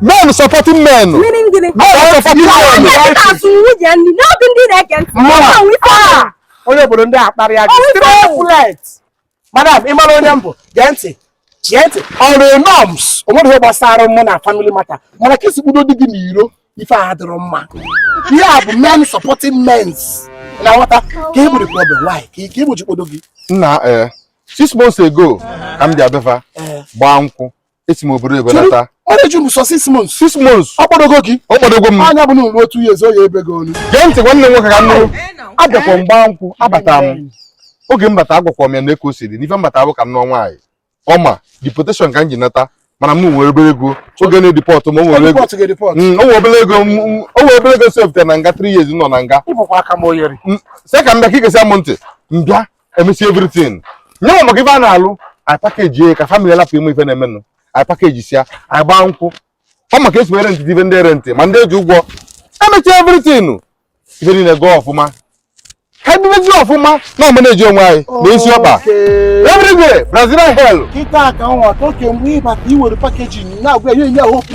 men supporting men Meaning gịnị? men supporting Ọ men na-eke ka asụ nwunye nri n'obi ndị na-ege ntị. Mma. Ọ bụ ife ọma. onye obodo ndị akparị ya gị Onye straight obodo. flight madam ị mara onye m bụ gee ntị gee ntị ọrụ norms o nwere ihe gbasara mụ na family matter mana ka i si kpọdo di gị n'iro ife a dịrọ mma ihe a bụ men supporting mens na nghọta ka e gburu problem why ka ike igbochi kpọdo gị nna eh, six months ago ka m bịa be fa gbaa nkwụ esi m obodo oyibo nata ọrụ eju m sọ six months six months ọ kpọdogo gị ọ kpọdogo m anya bụ na ụlọ otu ya ezo ya ebe gị olu gee ntị nwanne m nwoke ka m nụrụ abịakwa m gbaa nkwụ abata m oge m bata agwakwa m ya na eko siri n'ife m bata bụ ka m nụọ nwaanyị ọma deportation ka m ji nata mana m nwere obere ego oge na-edipọt m o nwere ego o nwe obere ego o nwe obere ego sefte na nga 3 years nọ na nga sị ka m bịa ka i gesịa m ntị m bịa emesi everything nye maka ife a na-alụ nwaanyị pakeji ya ka famili lapụ ime ife na-emenụ anyị pakejisia ya anyị gbaa nkwụ ọ ma ka e si rentị ife ndị rentị ma ndị e ji ụgwọ emesi everything ife niile gụọ ọfụma ka e bibezi ọfụma na ọma na-eji onwe anyị na isi ọkpa everywhere brazil hell kịta ka nwa toke mgbe ị bata i were pakeji na-agwa ya enye ahụ okwu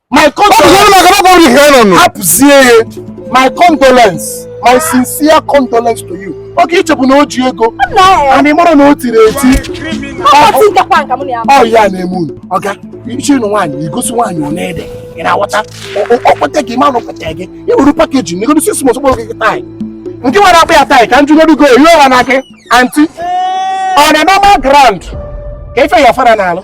my condolence hapụzie ya my condolence my sincere condolence to you oke i chepụ na o ji ego and ị mara na o tiri eti ọ ya na-eme unu ọ ga-eche ịnụ nwaanyị igosi nwaanyị ọ na-ede ị na-aghọta ọ kpọte gị manụ kpọte gị ị were pakeji na egodo six months kpọrọ gị taị nke nwere akpa ya taị ka m jụgodu gị ihe ọha na gị anti ọ na normal ground ka ife ya fa na-alụ